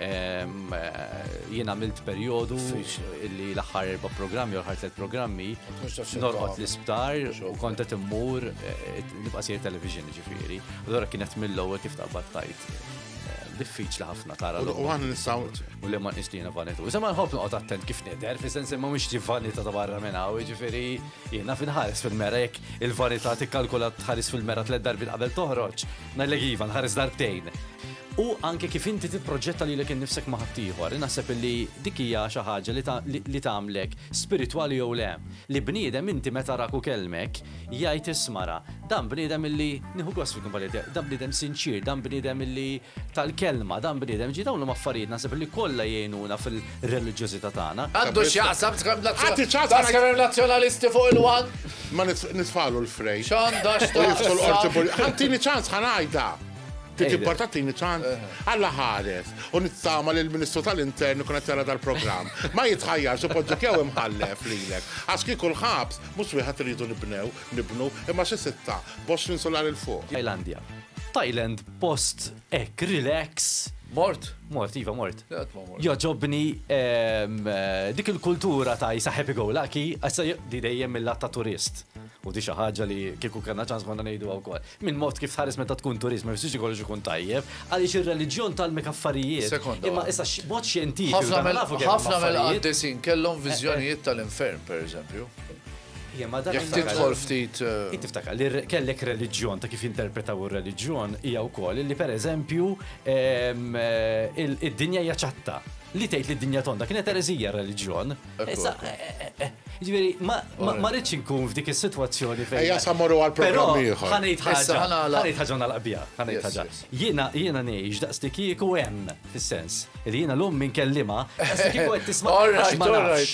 Ehm, eh, jien għamilt perjodu illi l-aħħar erba' programmi u l-aħħar tliet programmi norqod l-isptar u kont qed immur eh, nibqa' sejjer television ġifieri. Allora kienet mill-ewwel kif taqbad tajt eh, diffiċli ħafna tara l U għan nistaw. U li ma nistina vanitu. Iżda ma nħobb noqgħod attent kif nidher, fi sens ma mhix vanita ta' barra minn hawn, jiġifieri jiena finħares fil-mera jekk il-vanità tikkalkula tħares fil-mera tliet darbi qabel toħroġ, ngħidlek iva nħares darbtejn. U anke kif inti tipproġetta lilek innifsek ma' ħaddieħor, naħseb illi dik hija xi ħaġa li tagħmlek spiritwali jew le. Li bniedem inti meta arak u kellmek, jgħid isma' ra, dan bniedem illi nieħu gost fil-kumpannija tiegħu, dan bniedem sinċier, dan bniedem illi tal-kelma, dan bniedem, jiġifieri dawn huma affarijiet naħseb illi kollha jgħinuna fil-reliġjożità tagħna. Għandu x'jaqsam tkellem nazzjonalisti fuq il-one? Ma nitfagħlu l-frejn. X'għandha x'taqsam? Ħa tini ċans ħa ngħidha. Trid importatini tant Alla ħares u nittama li l-Ministru tal-Intern ikun qed jara dal-programm. Ma jitħajjarx ipoġġu kew imħallef lilek. Għax kieku l-ħabs mhux wieħed irridu nibnew, nibnu, imma xi sitta, b'għoxrin insular 'il fuq. Tajlandja. Thailand post hekk relax. Mort? Mort, iva mort. Qatt ma mort. Jogħġobni dik il-kultura ta' isa happy go lucky, issa di dejjem mill-lat ta' turist. U di xi ħaġa li kieku kellna ċans konna ngħiduha wkoll. Minn mod kif tħares meta tkun turist ma jfissirx li kollox ikun tajjeb, għaliex ir-reliġjon tgħallmek affarijiet. Sekonda Imma waħda. issa x- b'mod xjentifiku Ħafna aħna mill- nafu kemm hemm ħafna affarijiet. mill-qaddisin kellhom viżjonijiet tal-infern, pereżempju. Hija ma dan Jekk iftakar- tidħol ftit. eh, Int tiftakar li r- kellek reliġjon ta' kif jinterpretaw ir-reliġjon hija wkoll li pereżempju ehm, eh, il- id-dinja hija ċatta. Li tgħid li d-dinja tonda kienet ereżija r-reliġjon. Issa, ġveri, ma rridx nkun f'dik is-sitwazzjoni fejn. Ejja sa morru għal programm ieħor. Ħanejt ħaġa, ħanejt ħaġa naqbija, ħanejt ħaġa. Jiena jiena ngħix daqs li kieku hemm fis-sens li jiena lum minn kellima, daqs li kieku qed tisma' għax ma nafx.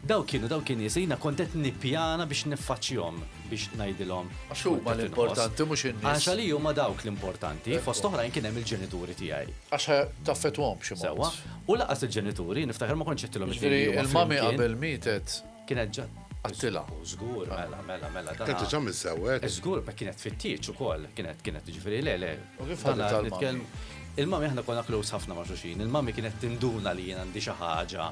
Daw kienu daw kien nies jiena kont qed nippjana biex niffaċċjhom biex ngħidilhom. Għax huma l-importanti mhux in-nies. Għax li huma dawk l-importanti, fost oħrajn kien hemm il-ġenituri tiegħi. Għax taffetwhom xi mod. U lanqas il-ġenituri, niftakar ma kontx għedtilhom it-tnejn li huma flimkien. Jiġifieri il-mami qabel mietet. Kienet ġa. Għedtilha. Żgur, mela, mela, mela. Kienet diġà miżżewwed. Żgur, ma kienet tfittiġ ukoll, kienet, kienet, jiġifieri le, le. U kif ħaditha l-mami? Il-mami aħna konna close ħafna ma' xulxin, il-mami kienet tinduna li jien għandi xi ħaġa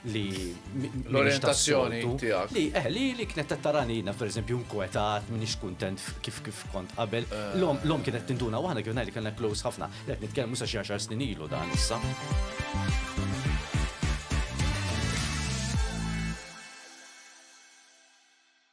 li. L-orjentazzjoni tiegħek. Li, eh, li, li kienet qed tarani jiena pereżempju nkwetat, m'iniex kuntent kif, kif kont qabel. L-omm, l-omm kienet tinduna u aħna kif ngħidlek kellna close ħafna. Qed nitkellmu sa xi għaxar snin ilu dan issa.